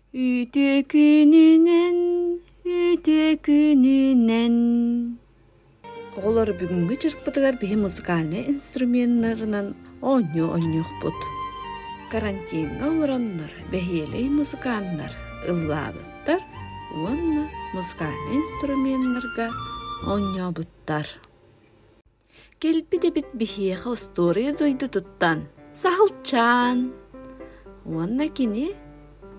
Үтүө күнүнэн, үтүө күнүнэн. Оҕолор бүгүҥҥү дьарыкпытыгар биһи музыкальнай инструменнарынан оонньуу-оонньуохпут. Карантиҥҥа олороннор бэһиэлэй музыканнар ыллаабыттар уонна музыкальнай инструменнарга оонньообуттар. Кэлбит эбит биһиэхэ остуоруйа дойдутуттан Саһылчаан уонна кини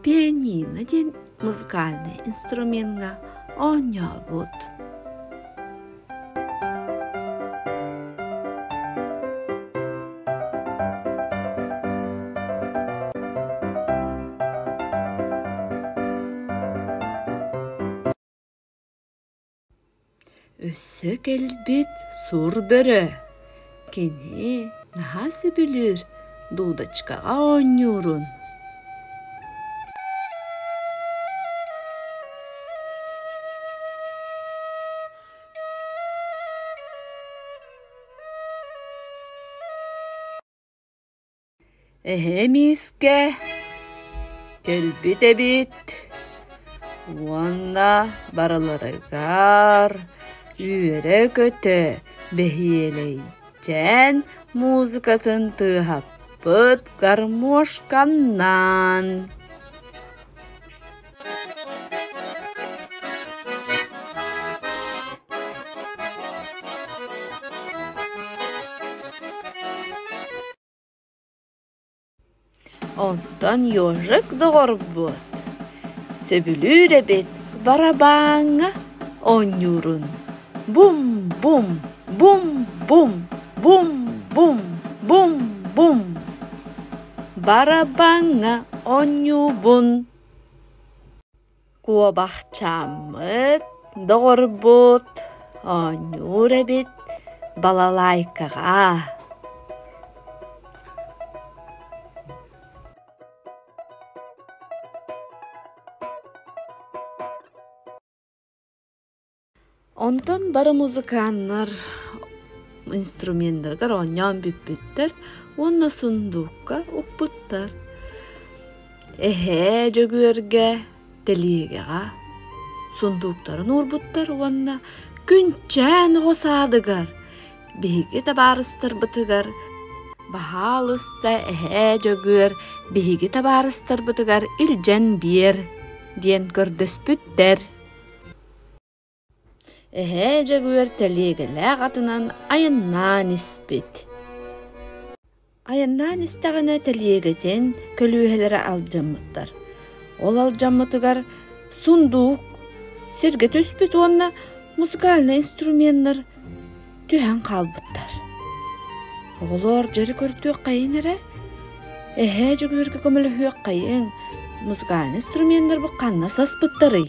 пианино диэн музыкальнай инструменҥа оонньообут. Өссө кэлбит сур бөрө, кини наһаа сөбүлүүр дудочкаҕа оонньуурун Эһээ миискэ кэлбит эбит уонна барыларыгар үөрэ-көтө бэһиэлэйдээн музыкатын тыаһаппыт гармошканнаан Онтон Ёжик доҕорбут сөбүлүүр эбит барабааҥҥа оонньуурун. Бум-бум, бум-бум, бум-бум, бум-бум. Барабааҥҥа оонньуубун. Куобахчааммыт, доҕорбут, оонньуур эбит балалайкаҕа. Онтон бары музыканнар инструменнарыгар оонньоон бүппүттэр уонна сундуукка укпуттар. Эһээ Дьөгүөргэ тэлиэгэҕэ сундууктарын уурбуттар уонна күнчээн оҕо саадыгар биһиги табаарыстарбытыгар баһаалыста эһээ Дьөгүөр биһиги табаарыстарбытыгар илдьэн биэр диэн көрдөспүттэр. Эһээ Дьөгүөр тэлиэгэлээх атынан айаннаан испит. Айаннаан истэҕинэ тэлиэгэтин көлүөһэлэрэ алдьаммыттар. Ол алдьаммытыгар сундуук сиргэ түспүт уонна музыкальный инструменнар түһэн хаалбыттар. Оҕолоор дьэри көрдүөххэйиҥ эрэ, эһээ Дьөгүөргэ көмөлөһүөххэйиҥ, музыкальный инструменнарбыт ханна саспыттарый?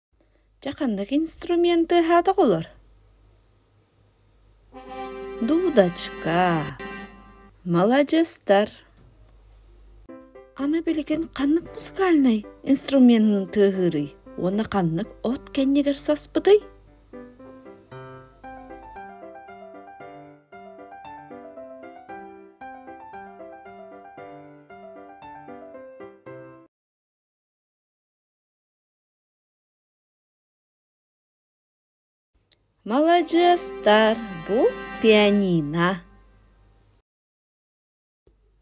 Дьэ ханнык инструменты аһаатах олор? Дудочка. Маладьыстар. Аны билигин ханнык музыкальный инструментын тыаһыырый уонна ханнык от кэннигэр саспытый? Маладьыастар, бу пианино.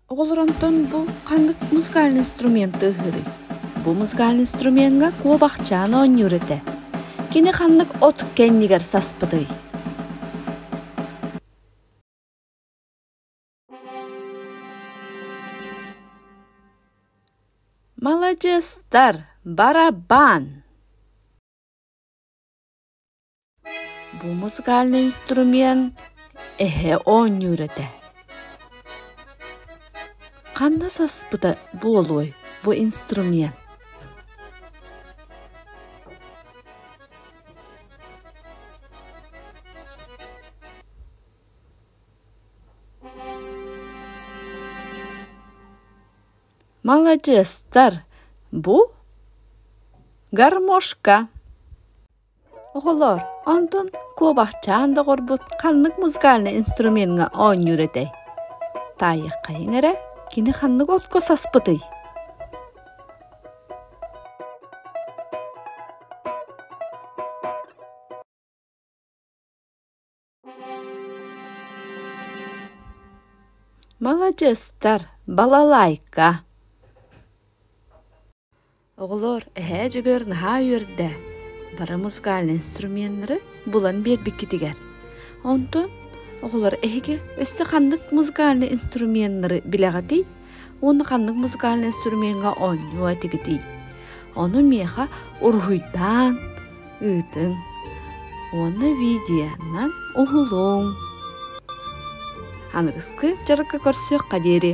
Оҕолор онтон бу ханнык музыкальный инструменты ыһыырый? Бу музыкальный инструмеҥҥа куобахчаан оонньуур этэ. Кини ханнык от кэннигэр саспытый? Маладьыстар, барабан! Бу музыкальный инструмент эһэ оонньуур этэ. Ханна саспыта буолуой бу инструмент? маладьыастар бу гармошка оҕолор онтун куобахчаан доҕорбут ханнык музыкальный инструменҥа оонньуур этэй таайыаххайыҥ эрэ кини ханнык отко саспытый маладьыастар балалайка оҕолор эһээ дьөгүөр наһаа үөрдэ бары музыкальный инструменнары булан биэрбиккитигэр онтон оҕолор эһиги өссө ханнык музыкальный инструменнары билэҕитий уонна ханнык музыкальнай инструменҥа оонньуо этигитий ону миэхэ уруһуйдаан ыытыҥ уонна видеонан уһулуҥ аныгыскы дьарыкка көрсүөххэ диэри